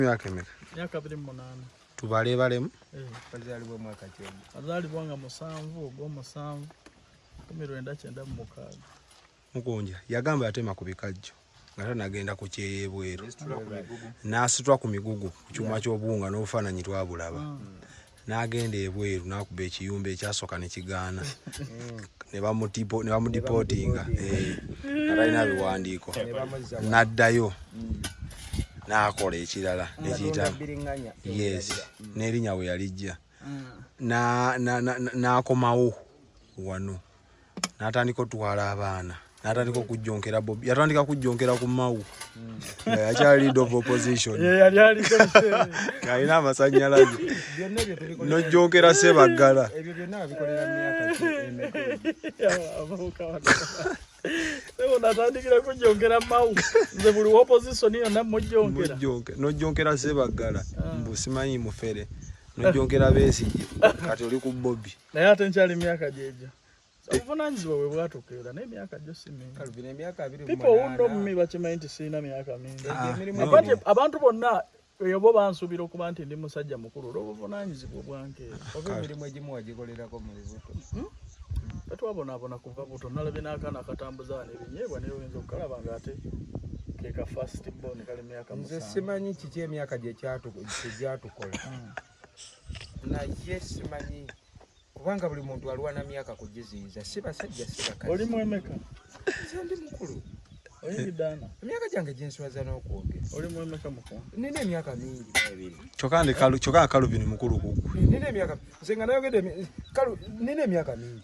Myaka emeka? Myaka biri mu munaana. Tubaleebalemu? Eh. Azaalibwa mwaka ki? Azaalibwa nga musanvu ogw'omusanvu kumi lwenda kyenda mu mukaaga. Mukunja yagamba yatema ku bikajjo nga tanagenda ku kyeyebweru n'asitula ku migugu ku kyuma ky'obuwunga n'obufaananyi twabulaba. Hmm. n'agenda ebweru n'akuba ekiyumba ekyasooka ne kigaana ne bamudipootinga eh, atalina biwandiiko n'addayo n'akola ekirala nekiyita yes n'erinya we yalijja n'akomawo wano natandika otwala abaana natandika okujjonkera bobi yatandika kujjonkera ku mawu nga yakyali lead of opposition alina amasanyalaze nojjonkera sebaggala natandikira kujjonkera mawu nze buli opposition yonna mujjonkera nojjonkera sebaggala mbusimanyi mufere nojjonkera besigye kati oli ku bobi naye ate nkyali emyaka gyegyo obuvunanyizibwa bwe bwatuuka era naye emyaka gyo si mingipipoundomi bakimanyi nti sirina myaka mingi ah, abantu bonna eyo bo bansuubira okuba nti ndi musajja mukulu olw'obuvunanyizibwa obwankeera oba emirimu egimu wagikolerako mu bibuto hmm? tatwabonabona kuva buto nalabye n'akaana akatambuza wano ebinyeebwa naye oyinza okukalaba nga ate keka fast bone kali myaka nze simanyi kiki emyaka gye gyatukola hmm. naye simanyi kubanga buli muntu alwana myaka kugiziyiza si basajja si bakazi oli mwemeka ndi mukulu emyaka gyange gyenswaza n'okwogera nina emyaka mingi kyokka kalubini mukulu kugwe nina emyaka nze nga nayogedde nina emyaka mingi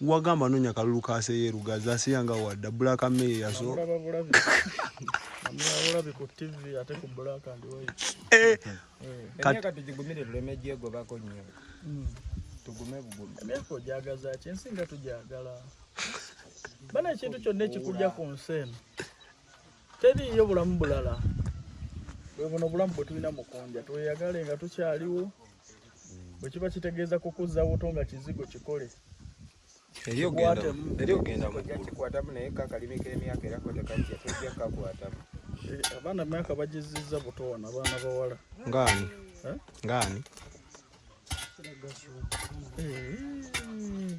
wagamba nonya kalulu ka seyeru gaza asiya nga wadda black mayor yaso eh. bana ekintu kyonna ekikujja ku nsi eno teriiyo bulamu bulala bwebuno obulamu bwetulina mukunja tweyagale nga tukyaliwo bwekiba kitegeeza kukuzza wuto nga kizigo kikole kikwatamu naye kakalimi k'emyaka era kotekajja tojja kakwatamu eh, abaana myaka bagizizza buto wano abaana bawala ngaani eh? ngaani eh.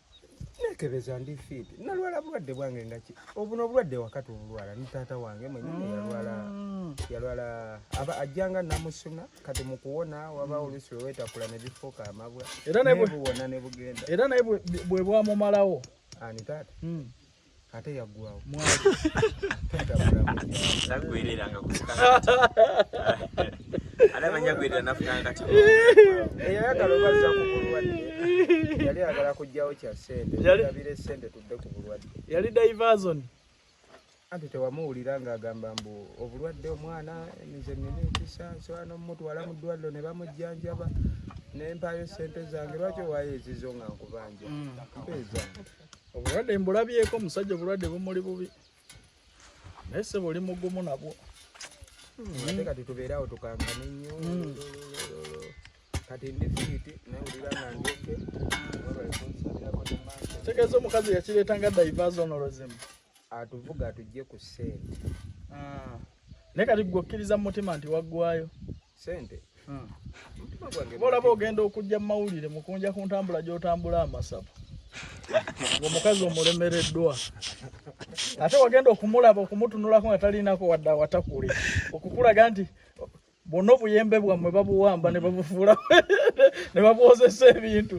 nekebeza ndi fit nalwala bulwadde bwange ngaki obuno obulwadde wakati obulwala ni taata wange mwenyini mm. yalwala yalwala aba ajjanga namusuna kati mu kuwona waba mm. oluusi wewetakula ne bifuuka amabwa nebuwona ne bugenda era naye bwe bwamumalawo ani taata mm. ate yaggwawo tagwereranga anamanyagwerera nafunanga kati eyayagala obazza ku bulwadde yali agala kujjawo kya sente abire sente tudde ku bulwadde yali diverson anti tewamuwulira ng'agamba mbu obulwadde omwana nze nina ekisa nsobola n'omumutwala mu ddwaliro ne bamujjanjaba ne mpaayo ssente zange lwaki owaayo ezizo nga nkubanja mm. mpeezange obulwadde mbulabyeko omusajja obulwadde bumuli bubi naye sebo oli mugumu nabwo ate kati tubeere awo tukangane nnyo hmm. kati ndi fiiti nawulira nga ndyoke tegeeza omukazi yakireeta nga daivaza onolozimu atuvuga atujje ku ssente ah. naye kati gwe okkiriza mu mutima nti waggwayo sente hmm. bolaba ogenda okujja mu mawulire mukunja ku ntambula gy'otambula amasabu omukazi omulemereddwa ate wagenda okumulaba okumutunulako nga talinako wadde awatakuli okukulaga nti bwonna obuyembe bwammwe babuwamba ne babufuula ne babwozesa ebintu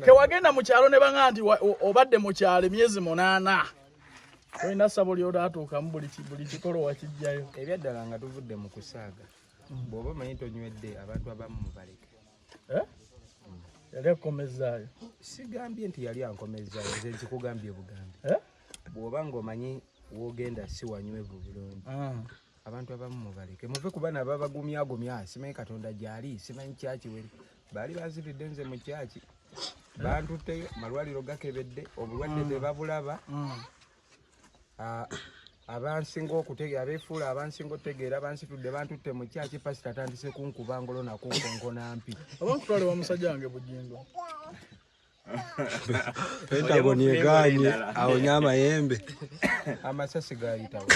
tewagenda mu kyalo ne banga nti obadde mu kyalo emyezi munaana olina sabo lyotatuukamu buli kikolo wakijjayo ebyaddala nga tuvudde mu kusaaga mm. bw'oba omanyi tonywedde abantu abamu mubaleke eh? mm. yali akukomezaayo sigambye nti yali ankomezaayo nze nkikugambye bugambi eh? bw'oba ng'omanyi wogenda si wanywevu bulungi ah. abantu abamu mubaleke muve ku bana babagumyagumya simanyi katonda gyali simanyi kyakiwere baali bazibidde nze mu kyaki bantutteyo malwaliro gakebedde obulwadde mm. tebabulaba mm. ah, abansinga okutegeera abefuula abansinga okutegeera bansitudde bantutte mu kyaki pasita atandise kunkuba ngolo nakunkonkona mpi oba nkutwale wa musajja wange bugingo Pentagon yeganye aonye amayembe amasasi gayitawo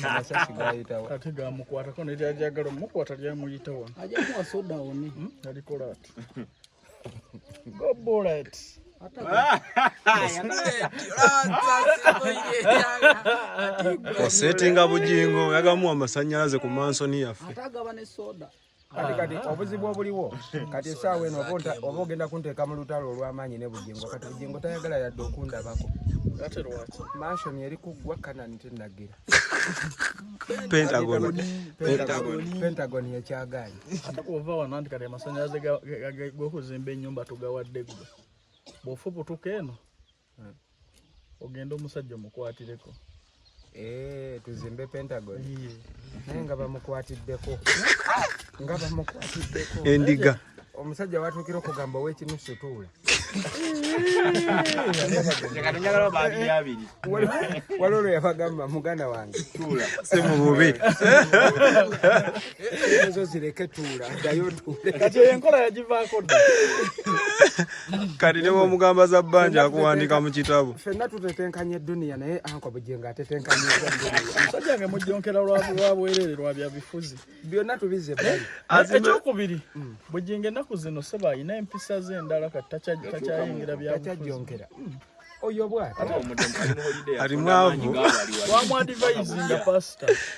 amasasi gayitawo kati gamukwatako nelyajagala omukwata lyamuyitawo ajamuwa soda one hmm? alikola ati go bullet osetinga bujingo yagamuwa amasanyalaze ku mansoni yaffe kati kati obuzibu obuliwo kati esaawa eno oba ogenda kunteeka mu lutalo olw'amaanyi ne bugingo kati bugingo tayagala yadde okundabako mansion eri kuggwa kanani tenagira pentagon yekyagaanyi ova wano nti kati amasanyalaze gokuzimba enyumba tugawadde gwe bwofubutuka eno ogenda omusajja omukwatireko eh, tuzimbe pentagon naye nga bamukwatiddeko nga bamukwatiddeko endiga omusajja watuukira okugamba owekinu situula waliwo lwe yabagamba muganda wange simububi ezo zireke tuula ddayo tuule kati eyo enkola yagivaako dda kati ne bwomugamba za bbanja akuwandika mu kitabo fenna tutetenkanya edduniya naye anko bugingo atetenkanya omusajja nge mujjonkera lwa bwerere lwa bya bifuzi byonna tubize eh, ekyokubiri hmm. bugingo ennaku zino seba alina empisa ze endala kati takyayingira byakyajjonkera hmm. oyo bwati ali mwavu wamwadivayizinga pasita